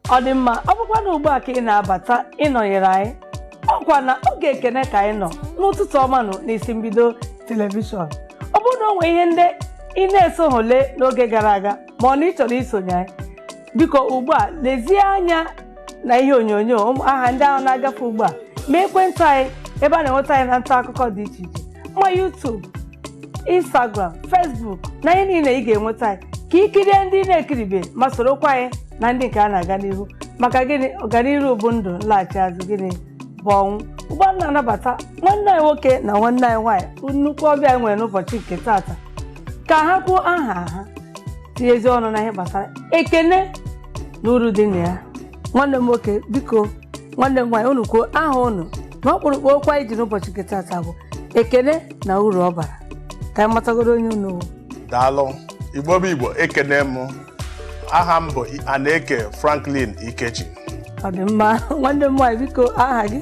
ọ dị mma ọ bụkwa na ugbu a ka ị na-abata ịnọnyere anyị ọkwa na oge ekene ka anyị nọ n'ụtụtụ ọma nụ n'isi mbido telivishọn ọ bụrụ na o nwee ihe ndị ị na-esohụ lee n'oge gara aga ma ọ na ị chọrọ isonye anyị biko ugbu a lezie anya na ihe onyonyo ụmụ aha ndị ahụ na-agafe ugbu a ma ekwentị anyị ebe a na-enweta anyị na nta akụkọ dị iche iche ma YouTube instagram facebook na ihe niile ị ga-enweta anyị ka ị kirie ndị ị na-ekiribe ma sorokwa anyị na ndị nke a na-aga n'ihu maka gịnị ọganiru bụ ndụ nlaghachi azụ gịnị bụ ọnwụ ugbu a na-anabata nwanne anyị nwoke na nwanne anyị nwaanyị bụ nnukwu ọbịa anyị nwere n'ụbọchị nke taata ka ha kwuo aha ha tinyezi ọnụ na ihe gbasara ekene na uru dị na ya nwanne m nwoke biko nwanne m nwaanyị unu kwuo aha unu na ọkpụrụkpụ okwu anyị ji n'ụbọchị nke taata bụ ekene na uru ọ bara ka anyị matagoro onye unu bụ daalụ igbo bụ igbo ekene m aha m bụ aneke franklin ikechi ọ dị mma nwanne m nwaanyị biko aha gị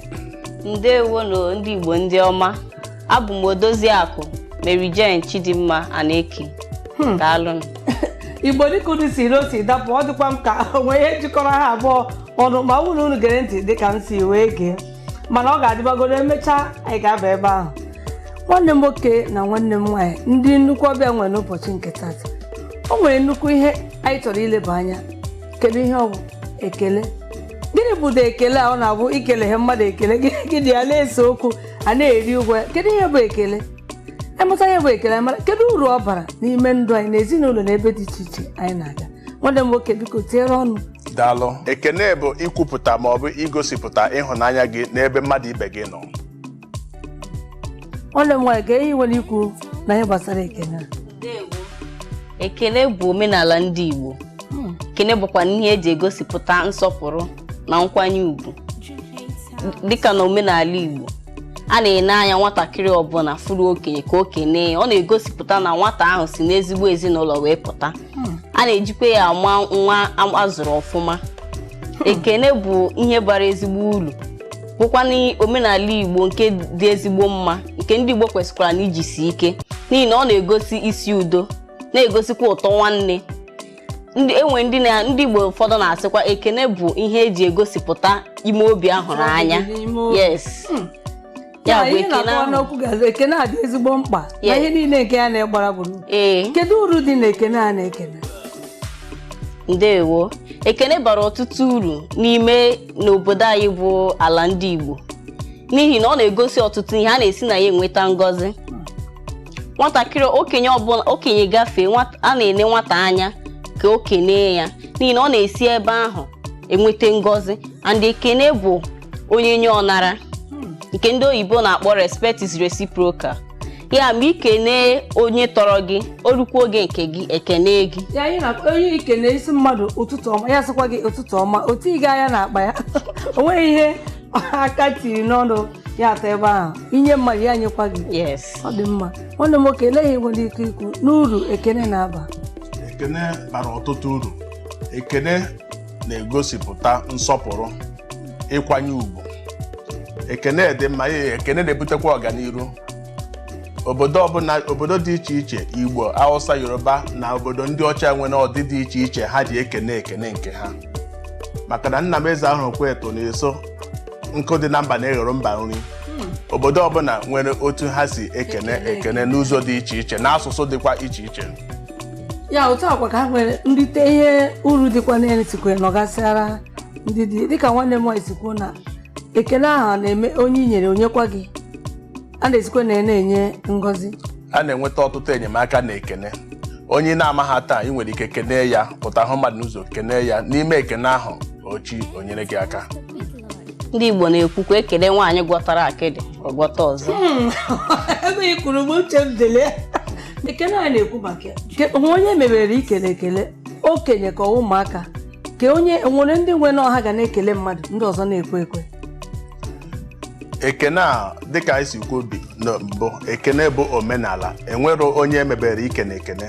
ndewonụ ndị igbo ndị ọma abụ m odoziakụ Mary Jane Chidimma Aneke hmm. daalụnụ igbo dịka unu siri si dapụ ọ dịkwa m ka o nwe ihe jikọrọ ha abụọ ọnụ ma ọ wụrụ unu gere ntị dịka m si wee gee mana ọ ga-adịbagoro emechaa anyị ga-aba ebe ahụ nwanne m nwoke na nwanne m nwaanyị ndị nnukwu ọbịa nwere n'ụbọchị nke taata o nwere nnukwu ihe anyị chọrọ ileba anya kedu ihe ọ bụ ekele gịnị bụdo ekele a ọ na-abụ i kelehụ mmadụ ekele gị na ya na-ese okwu a na-eri ụgwọ ya kedu ihe bụ ekele a mụta ihe bụ ekele mara kedu uru ọ bara n'ime ndụ anyị na ezinụlọ na ebe dị iche iche anyị na-aga nwanne m nwoke biko tinyere ọnụ daalụ ekene bụ ikwupụta ma ọ bụ igosipụta ịhụnanya gị n'ebe mmadụ ibe gị nọ nwanne m nwaanyị kee ihe i nwere ikwu na ihe gbasara ekele a? ekene bụ omenala ndị igbo ekene bụkwa ihe eji egosipụta nsọpụrụ na nkwanye ugwu dịka na omenala Igbo a na-ene anya nwatakịrị ọbụla fụrụ okenye ka o kene ya ọ na-egosipụta na nwata ahụ si n'ezigbo ezinụlọ wee pụta hmm. a na-ejikwa ya ama nwa azụrụ ọfụma hmm. ekene bụ ihe bara ezigbo uru bụkwanụ omenala Igbo nke dị ezigbo mma nke ndị Igbo kwesịkwara na ijisi ike n'ihi na ọ na-egosi isi udo na-egosikwa ụtọ nwanne e nwe ndị igbo ụfọdụ na-asịkwa ekene bụ ihe eji egosipụta ime obi ịhụnanya N'ime obi. yes Hmm. ya Ya, bụ ihe ekene na-akọwa ahụ n'okwu gazi ekene a dị ezigbo mkpa na Yes. ihe niile nke ya na-egbara gburugburu ee kedu uru dị na ekene a na-ekene ndewo ekene bara ọtụtụ uru n'ime n'obodo anyị bụ ala ndị igbo n'ihi na ọ na-egosi ọtụtụ ihe a na-esi na ya enweta ngọzi nwatakịrị okenye ọbụla okenye gafee nwata- a na-ele nwata anya ka o kenee ya n'ihi na ọ na-esi ebe ahụ enweta ngọzi and ekene bụ onye nye ọ nara nke ndị oyibo na-akpọ respect is reciprocal ya ma i kene onye tọrọ gị o rukwa oge nke gị e kene gị ya anyị na onye i kene ị sị mmadụ ụtụtụ ọma ya sịkwa gị ụtụtụ ọma otu ị ga anya n'akpa ya o nweghị ihe aka tiri n'ọnụ ya atọ ebe ahụ i nye mmadụ ya nyekwa gị yes ọ dị mma nwanne m nwoke elee ihe i nwere ike ikwu n'uru ekene na-aba ekene bara ọtụtụ uru ekene na-egosipụta nsọpụrụ ịkwanye ugwu ekene dị mma ya ekene na-ebutekwa ọganiru obodo ọbụla obodo dị iche iche igbo hausa yoruba na obodo ndị ọcha nwere ọdị dị iche iche ha ji ekene ekene nke ha maka na nna m eze ahụ kweto na-eso nkụ dị na mba na-eghere mba nri obodo ọbụla nwere otu ha si ekene ekene n'ụzọ dị iche iche na asụsụ dịkwa iche iche ya otu a kwa ka ha nwere nrite ihe uru dịkwa n'elu sikwe nọgasịara ndị dị dịka nwanne m nwaanyị si kwuo na ekele ahụ a na-eme onye i nyere o nyekwa gị a na-esikwa na ya na-enye ngọzi a na-enweta ọtụtụ enyemaka na ekene onye ị na-amaghị taa ị nwere ike kenee ya pụta hụ mmadụ n'ụzọ kenee ya n'ime ekene ahụ echi o nyere gị aka ndị igbo na-ekwukwa e kelee nwaanyị gwọtara akịdị ọ gwọta ọzọ ebe ị kwuru mgbe uche m dele ekele a na-ekwu maka ya Ke- o nwe onye e mebere ikele ekele okenye ka ọ bụ ụmụaka ka o nwere ndị nwe na ọ ha ga na-ekele mmadụ ndị ọzọ na-ekwe ekwe ekene a dịka anyị si kwuo bi na mbụ ekene bụ omenala e nwere onye e mebere ikene ekene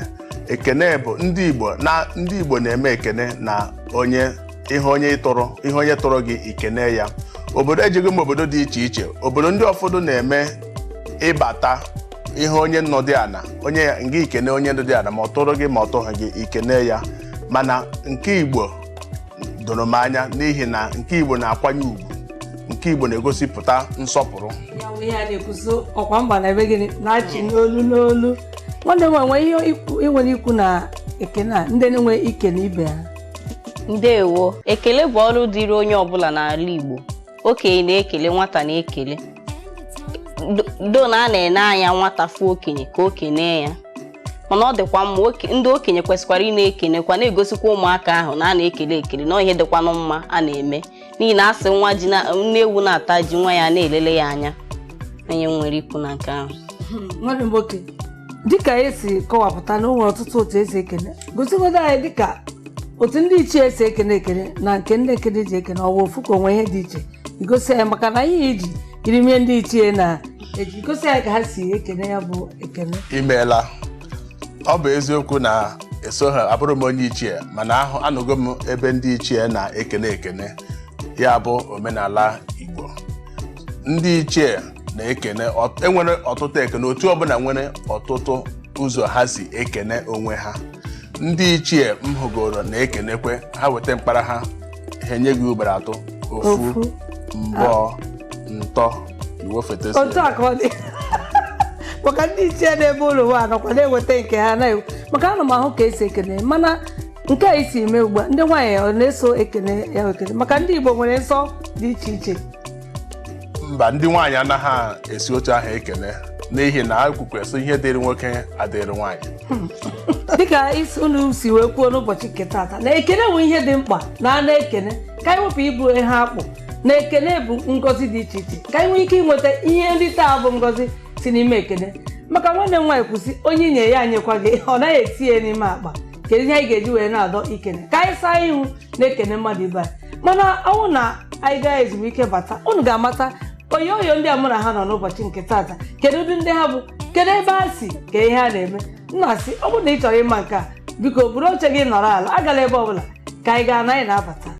ekene bụ ndị igbo na ndị igbo na-eme ekene na onye ihe onye ị tọrọ ihe onye tọrọ gị i kene ya obodo ejighị m obodo dị iche iche obodo ndị ụfọdụ na-eme ị bata ị hụ onye nọdụ ana onye ya ngị i kene onye nọdụ ana ma ọ tọrọ gị ma ọ tọghị gị i kene ya mana nke igbo doro m anya n'ihi na nke igbo na-akwanye ugwu nke igbo na-egosipụta nsọpụrụ ya bụ ihe a na-ekwuzi ọkwa mba na-eme gịnị na-achị n'olu n'olu nwanne m enwe ihe ikwu- ị nwere ikwu na ekene a ndị nwe ikele ibe ha ndewo ekele bụ ọrụ dịrị onye ọbụla n'ala igbo okenye na-ekele nwata na-ekele though na a na-ene anya nwata fụ okenye ka o kene ya mana ọ dịkwa mma ndị okenye kwesịkwara ịna-ekenekwa na-egosikwa ụmụaka ahụ na a na-ekele ekele na ọ ihe dịkwanụ mma a na-eme n'ihi na a sị nwa ji nne ewu na-ata ji nwa ya na-elele ya anya onye nwere ikwu na nke ahụ dịka e si kọwapụta na o nwere ọtụtụ otu e si ekele gosigodo anyị dịka otu ndị ichie si ekene ekene na nke ndị ekene ji ekene ọ bụ ofu ka o nwee ihe dị iche igosi anyị maka na ihe iji irimie ndị ichie na-eji egosi anyị ka ha si ekene ya bụ ekene imeela ọ bụ eziokwu na esoghị abụrụ m onye ichie mana ahụ anụgo m ebe ndị ichie na-ekene ekene ya bụ omenala igbo ndị ichie na-ekene ọt- enwere ọtụtụ ekene otu ọbụla nwere ọtụtụ ụzọ ha si ekene onwe ha ndị ichie m hụgoro na-ekenekwe ha weta mkpara ha ha enye gị ugboro atọ ofu mbọ ntọ iwe foto si otu a ka ọ dị maka ndị ichie n'ebe ụlọ ụwa nọkwa na-eweta nke ha na maka ana m ahụ ka esi ekene mana nke a i si eme ugbu a ndị nwaanyị ọ na-eso ekene ya ekene maka ndị igbo nwere nsọ dị iche iche mba ndị nwaanyị anaghị esi otu ahụ ekene n'ihi na akwụkwọ sị ihe dịrị nwoke adịrị nwaanyị dịka isi unu si wee kwuo n'ụbọchị nke taata na ekene bụ ihe dị mkpa na a na-ekene ka anyị wepụ ịbụ ihe akpụ na ekene bụ ngọzi dị iche iche ka anyị nwee ike inweta ihe ndị a bụ ngọzi si n'ime ekene maka nwanne m nwaanyị kwuru sị onye i nye ya enyekwa gị ọ naghị etinye n'ime akpa kedu ihe anyị ga-eji wee na-adọ ikene ka anyị saa ihu na-ekene mmadụ ibe anyị mana ọ bụrụ na anyị gaa ezumike bata unu ga-amata oyo oyo ndị a mụ na ha nọ n'ụbọchị nke taata kedu ụdị ndị ha bụ kedu ebe ha si ka ihe ha na-eme m na-asị ọ bụrụ na ị chọrọ ịma nke a biko buru oche gị nọrọ ala agala ebe ọbụla ka anyị gaa na anyị na-abata